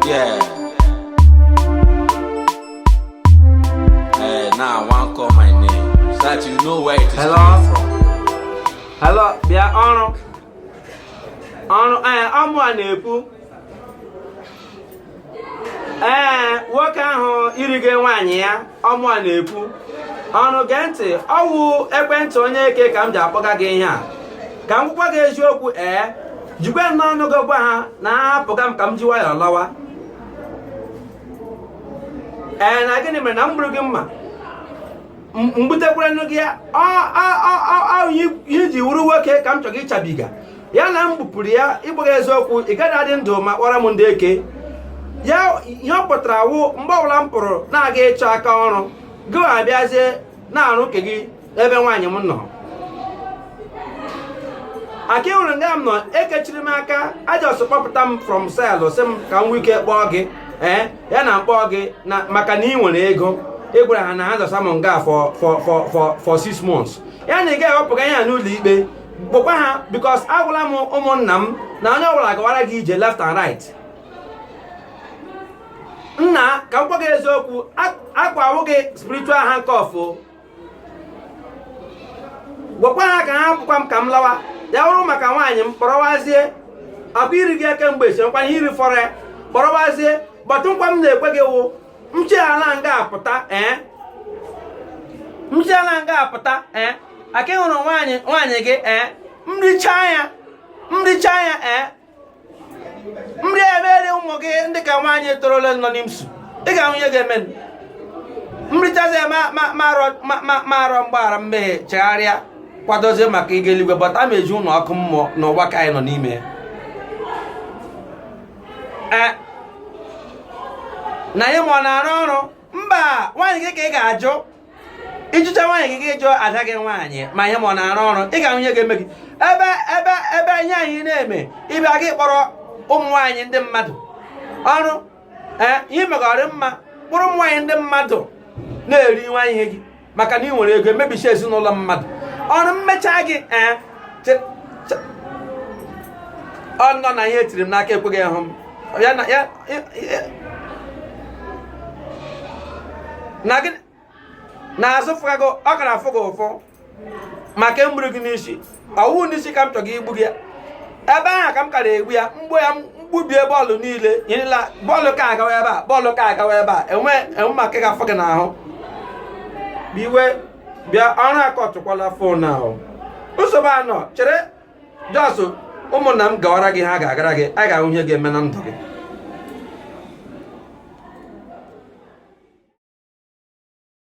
Yeah. Hey, now I want call my name. So that you know where it is Hello? coming from. Hello, bịa Ọrụ. Ọrụ, ee, ọ mụa na-ekwu. Ee, nwoke ahụ i rige nwaanyị ya. ọ mụa na-ekwu ọnụ gee ntị ọ wụ ekwentị onye eke ka m ji akpọga gị ihe a ka m gwakwa gị eziokwu ee jikwe n'ọnụ gị gwa ha na ahapụga m ka m ji nwayọọ lawa ee na gịnị mere na m gburu gị mma m gbutekwaranụ gị ya ihe i ji wụrụ nwoke ka m chọrọ ịchabiga ya na m gbupụrụ ya ịbụghị eziokwu ị gaghị adị ndụ ma kpọrọ m ndị eke ya ihe ọ pụtara wụ mgbe ọbụla m pụrụ na-aga ịchọ aka ọrụ gị abịazie na-arụ nke gị ebe nwaanyị m nọ aka ị hụrụ nga m nọ e kechiri m aka a just kpọpụta m from cell sị m ka m nwee ike kpọọ gị ee eh, ya na m kpọọ gị na maka na ị nwere ego ị gwara ha na ha dọsa m nga for for for for six months ya na ị ga-ewepụga ihe a n'ụlọ ikpe kpọkwa ha because agwala m ụmụnna m na onye ọbụla gawara gị ije left and right nna ka m gwa gị eziokwu akwa awụ gị spiritual handcuff gwakwa ha ka hapụkwa m ka m lawa ya wụrụ maka nwaanyị m kpọrọwazie akwa i rige kemgbe esi nkwa ihe i rifọrọ ya kpọrọwazie but nkwa m na-ekwe gị wụ m shiala nga a pụta ee eh? m shiala nga a pụta ee eh? aka ị hụrụ nwaanyị nwaanyị gị ee eh? m richa ya m richa ya ee m rie mere ụmụ gị ndị ka nwaanyị torola nọ n'IMSU ị ga-ahụ ihe ga-eme m richazi ya m arịọ mgbaghara mmehie chegharịa kwadozie maka ịga eluigwe but ma eji ụlọ ọkụ mmụọ n'ụwa ka anyị nọ n'ime ya eh, na ihe m a ọ na-arụ ọrụ mba nwaanyị gị ka ị ga-ajụ ị jụcha nwaanyị gị gị jụọ ada gị nwaanyị ma ihe m a ọ na-arụ ọrụ ị ga-ahụ ihe ga-eme gị ebe ebe ebe ihe anyị na-eme ị bịaga kpọrọ ụmụ nwaanyị ndị mmadụ Ọrụ eh, ihe megọrị mma kpụrụ ụmụ nwaanyị ndị mmadụ na-eri nwa ihe gị maka na ị nwere ego emebicha ezinụlọ mmadụ Ọrụ m mecha gị ee eh, ọ nọ na ihe e tiri m n'aka ekweghị ịhụ m ya na ya na gị na-azụ fụga gị ọ gara afụ gị ụfụ maka e gburu gị n'isi ọ wụ n'isi ka m chọga igbu gị ebe ahụ ka m kara egbu ya m gbuo ya m gbubie bọọlụ niile nyerela bọọlụ ka agawa ebe a bọọlụ ka agawa ebe a enwe enwe maka ga-afụ gị n'ahụ iwe bịa ọrụ akọtụkwala fon ahụ nsogbu anọ chere jọsụ ụmụnna m gawara gị ha ga-agara gị a ga-ahụ ihe ga-eme na ndụ gị